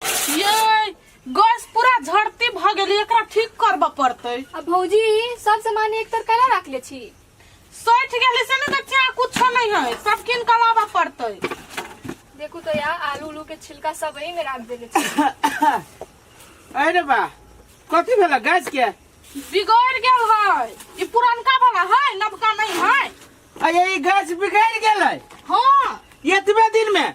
ये गैस पूरा झड़ती भ गेली एकरा ठीक करब पड़ते अब भौजी सब सामान एक तर कला रख ले छी सोच गेली से ने देखिया कुछ नहीं है सब किन के लाबा पड़ते देखू तो यार आलू उलू के छिलका सब वही में रख देले छी अरे बा कथी भेला गैस के बिगड़ गेल है ई पुरनका वाला है नवका नहीं है अरे ई गैस बिगड़ गेलै हाँ एतबे दिन में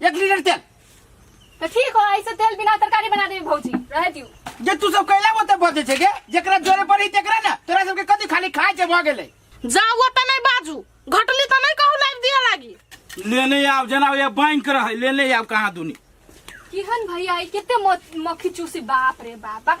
एक लीटर तेल तो ठीक हो ऐसे तेल बिना तरकारी बना देबे भौजी रह दियो जे तू सब कैला वो तब बजे छे के जेकरा जोरे पड़ी तेकरा ना तोरा सबके कथी खाली खाए छे भ गेले जाओ त नहीं बाजू घटली त नहीं कहू लाइव दिया लागी लेने आव जना ये बैंक रहे लेने आव कहाँ दुनी किहन भैया ई केते मो- मक्खी चूसी बाप रे बाप बाप।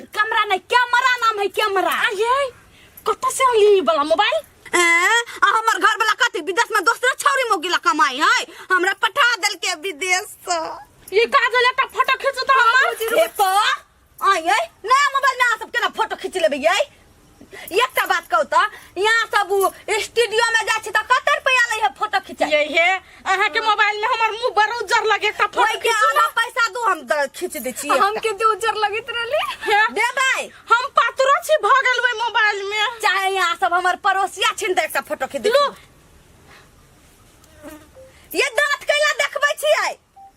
कैमरा नहीं कैमरा नाम है कैमरा अरे कत से अली ई वाला मोबाइल ए, आ हमर घर वाला कथी विदेश में दोसरे छौरी मोगी ला कमाई है हमरा पठा देल के विदेश से ये का जो लेटा फोटो खींचता हमर ए तो आई ए नया मोबाइल में आ सब केना फोटो खींच लेबे ये एकटा बात कहू तऽ यहाँ सब स्टूडियो में जाइ छी तऽ कते रुपया लै है फोटो खिंचाई ये हे अहाँ के मोबाइल में हमर मुंह बड़ उज्जर लगे ता फोटो ओइके खींचू आधा पैसा दू हम द- खींच दै छी हम के जे उज्जर लगैत रहली हे देबै हम पातरो छी भ गेल ओइ मोबाइल में चाहे यहाँ सब हमर पड़ोसिया छिन तऽ एकटा फोटो खींच दै छी। लू। ये दाँत कैला देखबै छियै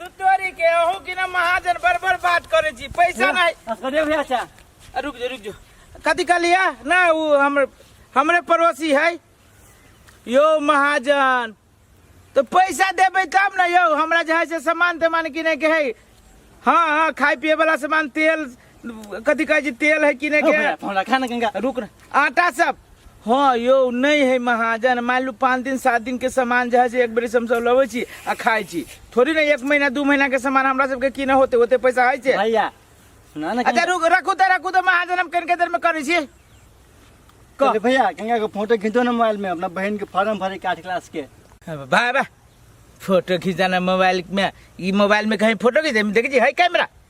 दुतोरी के अहू की ना महाजन बड़ बड़ बात करे छी पैसा नहीं असगरे भैया चा आ, रुक जो रुक जो कथी कहलिया ना वो हमर हमरे पड़ोसी है यो महाजन तो पैसा देबे तब ना यो हमरा जे है से सामान तमान किने के है हाँ हाँ खाए पिए वाला सामान तेल कथी कहै छी तेल है किने के हमरा खा ना गंगा रुक ना आटा सब हाँ यौ नहीं है महाजन मान लू पाँच दिन सात दिन के सामान जे है से एक बेर से हम सब लबै छी आ खाइ छी थोड़ी ना एक महीना दू महीना के सामान हमरा सबके किने होते होते पैसा है छै भैया सुना ना अच्छा रुक रखू तऽ रखू तऽ महाजन हम कनिके देर में करै छी कह। अरे भैया गंगा के फोटो खींचो ना मोबाइल में अपना बहन के फॉर्म भरे के आठ क्लास के भाई बा फोटो खिंचाना मोबाइल में ई मोबाइल में कहीं फोटो खींचे देखै छी है कैमरा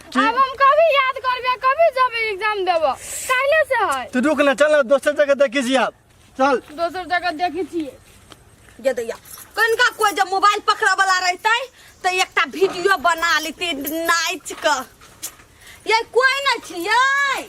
अब हम कभी याद करबे कभी जब एग्जाम देब काल्हे से है तू रुक ना चल ना दोसर जगह देखी छी आब चल दोसर जगह देखी छिए ये दैया कनका कोई जब मोबाइल पकड़ा वाला रहते तो एकटा वीडियो बना लेते नाच के ये कोई नहीं छियै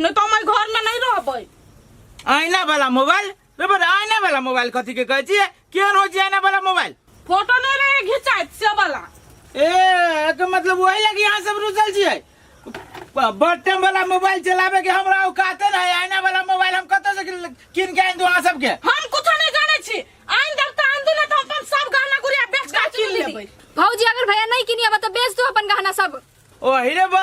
नहीं तो हमारे घर में नहीं रहबै आईना वाला मोबाइल रे बड़ आईना वाला मोबाइल कथी के कहै छियै केहन होइ छै आईना वाला मोबाइल फोटो नहीं रहे घिंचाइत से वाला ए एकर मतलब वही लगी यहाँ सब रुसल छियै ब- बटन वाला मोबाइल चलाबे के हमरा औकाते नहीं आईना वाला मोबाइल हम कतऽ से किन- कीन के आनि दू अहाँ सबके हम कुछ नहीं जाने छी आइन देव तो आन दू ना तो अपन सब गहना गुड़िया बेच के किन लेबै भौजी अगर भैया नहीं किनिया तो बेच दो अपन गहना सब ओ हिरे बा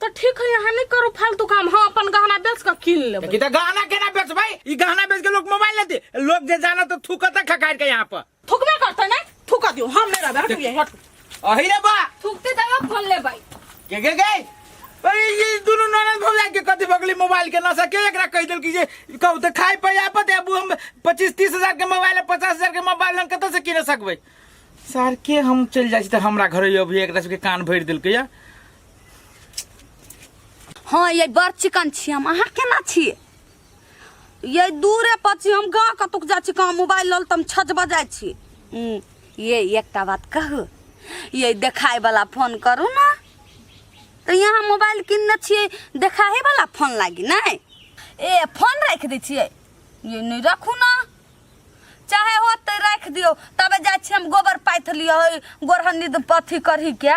तो ठीक है यहाँ नहीं करो फालतू काम हाँ अपन गहना बेच कर किन ले कि तो गहना केना बेचबै ई गहना बेच के लोग मोबाइल लेते लोग जे जाना तो थूकत है खखार के यहाँ पर थुकबे करते ना थुका दियो हम नहीं रहबे हट ये हट अही रे बा थुकते तब फोन ले भाई के के गए अरे ये दोनों ननद भौजाई के कथी भगली मोबाइल के नशा के एकरा कह देल कि जे कहू तो खाए पे आपत है अब हम पच्चीस तीस हजार के मोबाइल है पचास हजार के मोबाइल हम कतऽ से किन सकबै सर के हम चल जाइ छी तऽ हमरा घर अभी एकरा सबके कान भरि देलकै या हँ ये बड़ चिकन छी हम अहाँ केना छी ये दूरे पर छी हम गाँव कतुक जाइ छी कहाँ मोबाइल लल तऽ हम छज बजाइ छी हम्म, ये एकटा बात कहू ये देखाय वाला फोन करू ने तऽ यहाँ मोबाइल किनने छियै देखाहे वाला फोन लागी नहि ए फोन राखि दै छियै ये नहि राखू ने चाहे होत तऽ राखि दियौ तबे जाइ छी हम गोबर पाथि लियौ गोरहन्नी अथी करही के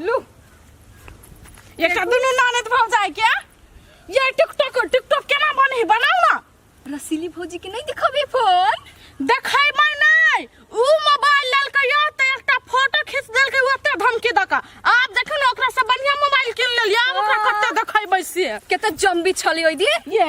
लू ये का दुनू नानद भौ जाए क्या ये टिकटॉक टिकटॉक केना बने है बनाओ ना रसीली भौजी के नहीं दिखबे फोन देखाई मैं नहीं ऊ मोबाइल ललकै यो त एकटा फोटो खींच देलकै ओते धमकी दका आप देखियो ना ओकरा से बढ़िया मोबाइल किन लेलिए आब ओकरा कते देखाई बैसे केते जम्बी छली ओइ दिन ये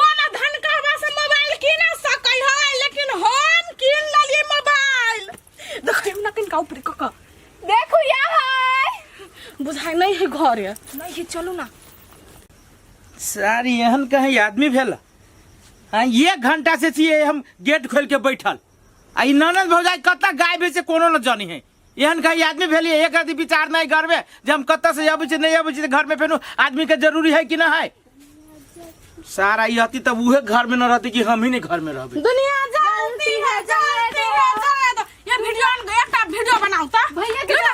कोनो धनकावा से मोबाइल कीन सकै है लेकिन हम कीन लेलिए मोबाइल देखै ना किन का ऊपर कका देखू या है बुझाइ नहीं है घर है नहीं है चलू ना सारी एहन कहीं आदमी भेला हाँ एक घंटा से छिए हम गेट खोल के बैठल आ ई ननद भौजाई कतऽ गाय बेचे कोनो न जानी है एहन कई आदमी भेलिए एक रति विचार नहीं करबे जे हम कत से अबै छी नहीं अबै छी घर में फेनु आदमी के जरूरी है कि ना है सारा ई हती तब उहे घर में न रहती कि हम ही नहीं घर में रहबे दुनिया जलती है जलती है जले दो ये वीडियो ऑन गया का वीडियो बनाओ ता भैया के ना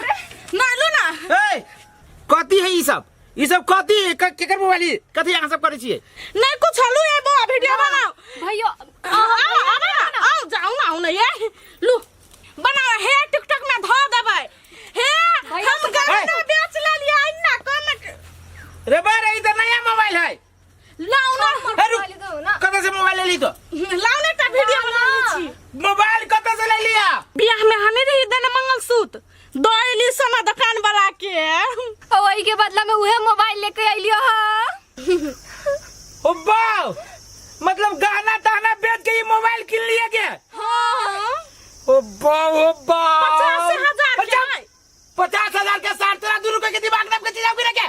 ना लो ना ए कथी है ई सब ई सब कथी है क- केकर मोबाइल है? कथी अहाँ सब करै छियै नहीं कुछ हलू है वो वीडियो बनाओ भैया आओ आओ ना आओ जाओ ना आओ ना ये लू बनाओ हे टिकटॉक में धो देबै हे हम गाना बेच लेलिए अन्ना कमेंट रे बा रे ई त नया मोबाइल है लाओ ना हे रुक मोबाइल दो ना कतऽ से मोबाइल लेली तो लाओ ना एकटा वीडियो बनाबै छी मोबाइल कतऽ से लेलिया बियाह में हमें रही देने मंगलसूत्र दैली सोना दुकान वाला के और वही के बदला में उहे मोबाइल लेके आइलियो ह ओ बाव मतलब गहना तहना बेच के ये मोबाइल किन लिए के हां ओ बाव ओ बाव पचास हजार के पचास- नहीं। पचास हजार के साठ तेरह दू रुपए के दिमाग नाम के चीज आपकी रखे